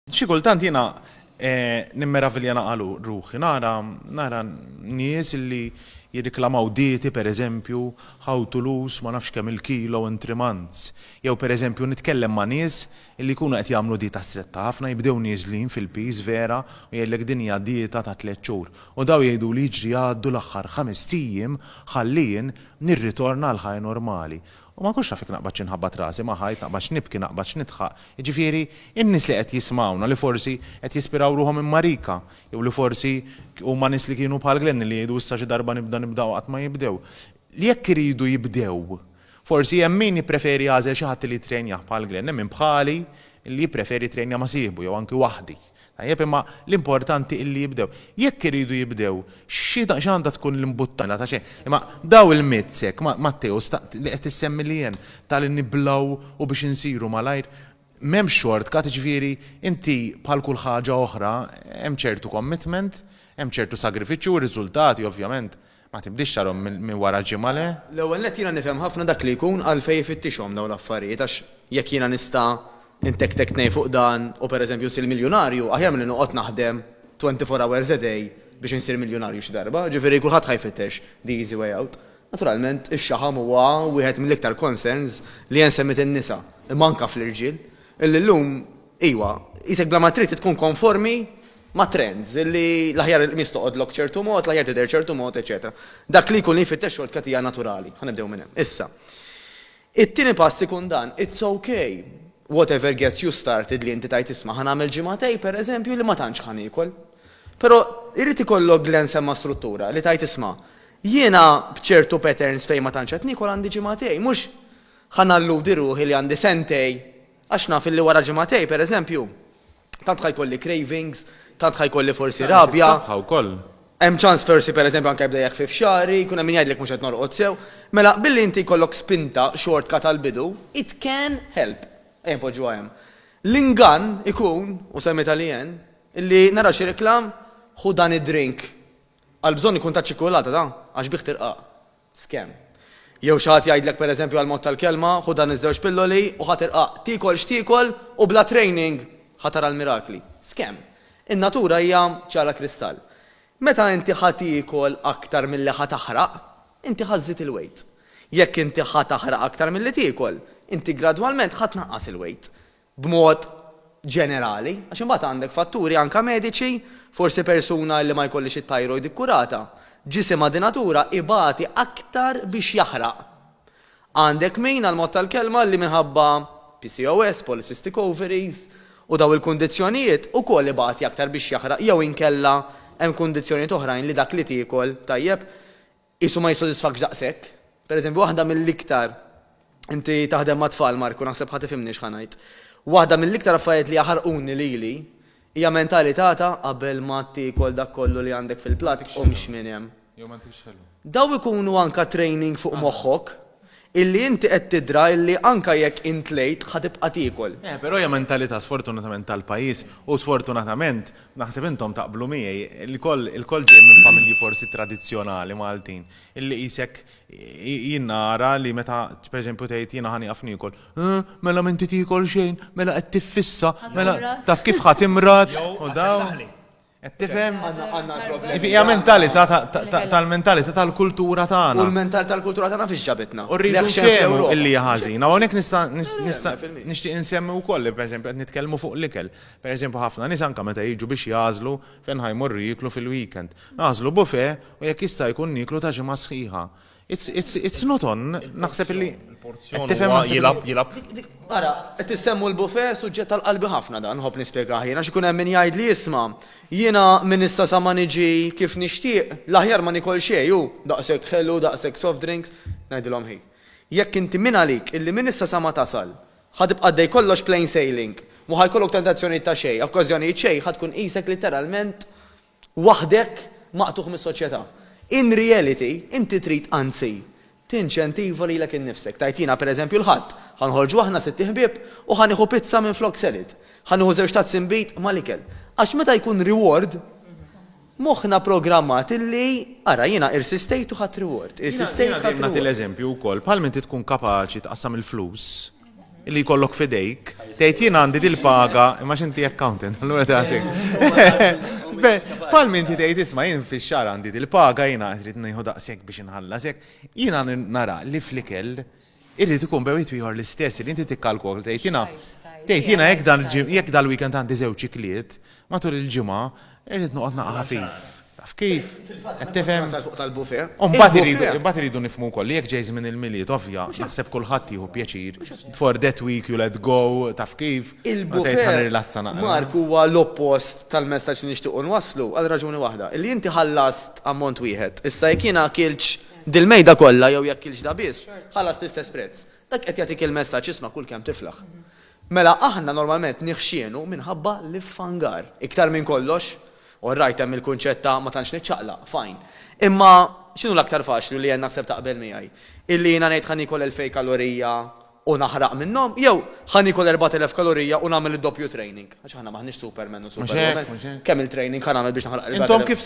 Xi kultant jiena nimmeravilja naqa' ruħi, nara, nara nies illi jirriklamaw dieti, per eżempju, how to lose ma nafx kemm il-kilo in three months. Jew per eżempju nitkellem ma' nies illi jkunu qed jagħmlu dieta stretta ħafna, jibdew nieżlin fil-piż vera u jgħidlek din hija dieta ta' tliet xhur. U dawn jgħiduli jiġri għaddu l-aħħar ħamest ijiem ħalli jien nirritorna għall-ħajja normali. U ma nkunx naf jekk naqbadx inħabbat rasi ma' ħajt, naqbadx nibki, naqbadx nidħaq. Jiġifieri, in-nies li qed jismgħuna, li forsi qed jispiraw ruħhom minn Marika, jew li forsi huma nies li kienu bħal Glenn li jgħidu issa xi darba nibda nibda u qatt ma jibdew. Li jekk iridu jibdew. Forsi hemm min jippreferi jagħżel xi ħadd li jittrejnjah bħal Glenn, hemm min bħali li jippreferi jittrejnja ma' sieħbu jew anki waħdi. Tajjeb, imma l-importanti illi jibdew. Jekk iridu jibdew, x'għandha tkun l-imbuttuna ta' xejn? Imma dawn il-myths hekk, Matteus, li qed issemmi li hemm, ta' li niblaw u biex insiru malajr, m'hemmx shortcut, jiġifieri inti bħal kull ħaġa oħra hemm ċertu commitment, hemm ċertu sagrifiċċju u r-riżultati ovvjament Ma tibdiex xagħarhom minn wara ġimgħa, le? L-ewwel nett jiena nifhem ħafna dak li jkun għalfejn ifittixhom dawn l-affarijiet għax jekk jiena nista' ntektek tnejn fuq dan u pereżempju nsir miljunarju aħjar milli noqgħod naħdem twenty four hours a day biex insir miljunarju xi darba, jiġifieri kulħadd ħa jfittex the easy way out. Naturalment ix-xaħam huwa wieħed mill-iktar concerns li hemm semmiet in-nisa, imma anke fl-irġiel, illi llum, iwa, qisek bla ma trid tkun konformi ma' trends, li l-aħjar il-qmis toqgħodlok ċertu mod, l-aħjar tidher ċertu mod, eċċetera Dak li jkun li jfittex xortkattija naturali. Ħa nibdew minn hemm. Issa, it-tieni pass ikun dan, It's ok, whatever gets you started li inti tgħid isma' ħa nagħmel ġimagħtej, per eżempju, li ma tantx ħa niekol. Però irid ikollok Glenn semma struttura, li tgħid isma' jiena b'ċertu patterns fejn ma tantx qed niekol għandi ġimagħtej, mhux ħa nalludi ruħi li għandi sentej għax naf li wara ġimagħtej, per eżempju, Tant ħa jkolli cravings, tant ħa jkolli forsi rabja. Tant fis-saħħa wkoll. Hemm ċans forsi pereżempju anke jibda jeħfif xagħri, jkun hemm min jgħidlek mhux qed norqod sew. Mela billi inti jkollok spinta, xortka tal-bidu, it can help. Ejja npoġġuha hemm. L-ingann ikun, u semmitha Leanne, illi nara xi reklam, ħu dan id-drink. Għall-bżonn ikun taċ-ċikkulata da, għax bih tirqaq. scam. Jew xi ħadd jgħidlek pereżempju għall-mod tal-kelma, ħu dan iż-żewġ pilloli u ħa tirqaq, tiekol x'tiekol u bla training ħa tara l-mirakli. Scam. In-natura hija ċara kristall. Meta inti ħa tiekol aktar milli ħa taħraq, inti ħa żżid il-weight. Jekk inti ħa taħraq aktar milli tiekol, inti gradwalment ħa tnaqqas il-weight. b'mod ġenerali, għax imbagħad għandek fatturi anke mediċi, forsi persuna li ma jkollhiex it-thyroid ikkurata, ġisimha di natura ibati aktar biex jaħraq. Għandek min, għall-mod tal-kelma, li minħabba PCOS, polycystic ovaries, u dawn il-kundizzjonijiet, ukoll ibati aktar biex jaħraq jew inkella hemm kundizzjonijiet oħrajn li dak li tiekol, tajjeb, qisu ma jissodisfakx daqshekk. Pereżempju, waħda mill-iktar, inti taħdem mat-tfal, Marku, naħseb ħa tifhimni x'ħa ngħid. Waħda mill-iktar affarijiet li jaħarquni lili hija mentalità ta' qabel ma tiekol dak kollu li għandek fil-platt, qumx minn hemm. Dawn ikunu anke training fuq moħħok. Illi inti qed tidra illi anka jekk int tlejt ħa tibqa' tiekol. Eh, però hija mentalità sfortunatament tal-pajjiż u sfortunatament, naħseb intom taqblu miegħi, ilkoll ilkoll ġej minn familji forsi tradizzjonali Maltin, illi qisek jien nara li meta pereżempju tgħid jiena ħa nieqaf niekol, Eh, mela m'inti tiekol xejn, mela qed tiffissa, mela taf kif ħa timrad u dawn. Qed tifhem? Ivi hija mentalità tal-mentalità tal-kultura tagħna. U l-mentalità tal-kultura tagħna fiex ġabitna? U rridu nfehmu illi hija ħażina. U hawnhekk nista' nista' nixtieq insemmi wkoll li pereżempju qed nitkellmu fuq l-ikel. Pereżempju ħafna nies anke meta jiġu biex jagħżlu fejn ħa jmorru jieklu fil-weekend. Nagħżlu buffet u jekk jista' jkun nieklu ta' ġimgħa sħiħa. It's, it's, it's not on, naħseb li. Il-porzjon tifhem jilab, jilab. Ara, qed issemmu l-bufe suġġett tal-qalbi ħafna dan, ħobb nispjega ħajna, x'ikun hemm min jgħid li jisma' jiena minn issa sa ma niġi kif nixtieq, l-aħjar ma nikol xejn hu daqshekk ħelu, daqshekk soft drinks, ngħidilhom ħi. Jekk inti minn għalik illi minn issa sa ma tasal, ħatibqa' dej kollox plain sailing, mhu ħajkollok tentazzjonijiet ta' xejn, okkażjonijiet xejn, ħad tkun qisek litteralment waħdek maqtugħ mis-soċjetà. In reality, inti trid anzi tinċentiva lilek innifsek. Tgħid jiena pereżempju l-Ħadd, ħa nħorġu aħna sitt iħbieb u ħa nieħu pizza minflok salad. Ħa nieħu żewġ tazzi nbid mal-ikel. Għax meta jkun reward, moħħna programmat illi ara jiena irsistejt u ħadt reward. Irsistejt u ħadt reward. Jiena dejjem nagħti l-eżempju wkoll, bħalma inti tkun kapaċi tqassam il-flus, li jkollok f'idejk, tgħid jien għandi dil-paga, imma x'inti accountant, allura tagħtik. Bħal minti tgħid isma' jien fix-xahar għandi dil-paga, jiena rrid nieħu daqshekk biex inħallas hekk. Jiena nara li fl-ikel irid ikun bejn wieħed u ieħor l-istess, li inti tikkalkol tgħid jiena tgħid jiena jekk dal-weekend għandi żewġ ikliet matul il-ġimgħa, Irrid noqgħod naqa' ħafif. Taf kif? Qed tifhem? U mbagħad irridu nifhmu wkoll li jekk ġej żmien il-Milied ovvja, naħseb kulħadd jieħu pjaċir, before that week you let go, taf kif? Meta tgħid ħa nirrilassa naqra. Mark, huwa l-oppost tal-messaġġ li nixtiequ nwasslu, għal raġuni waħda, illi inti ħallast ammont wieħed. Issa jekk jiena akiltx dil-mejda kollha jew jekk kiltx da biss, ħallast l-istess prezz. Dak qed jagħtik il-messaġġ, isma' kull kemm tiflaħ. Mela aħna normalment niħxienu minħabba l-iffangar. Iktar minn kollox, orrajt hemm il-kunċett ta' ma tantx niċċaqlaq, fajn. Imma x'inhu l-aktar faċli u li jien naħseb taqbel miegħi? Illi jiena ngħid ħa niekol elfej kalorija u naħraq minnhom? Jew ħa niekol erbat elef kalorija u nagħmel id-doppju training? Għax aħna m'aħniex supermen u superwomen. Kemm il-training ħa nagħmel biex naħraq il-erbat elef?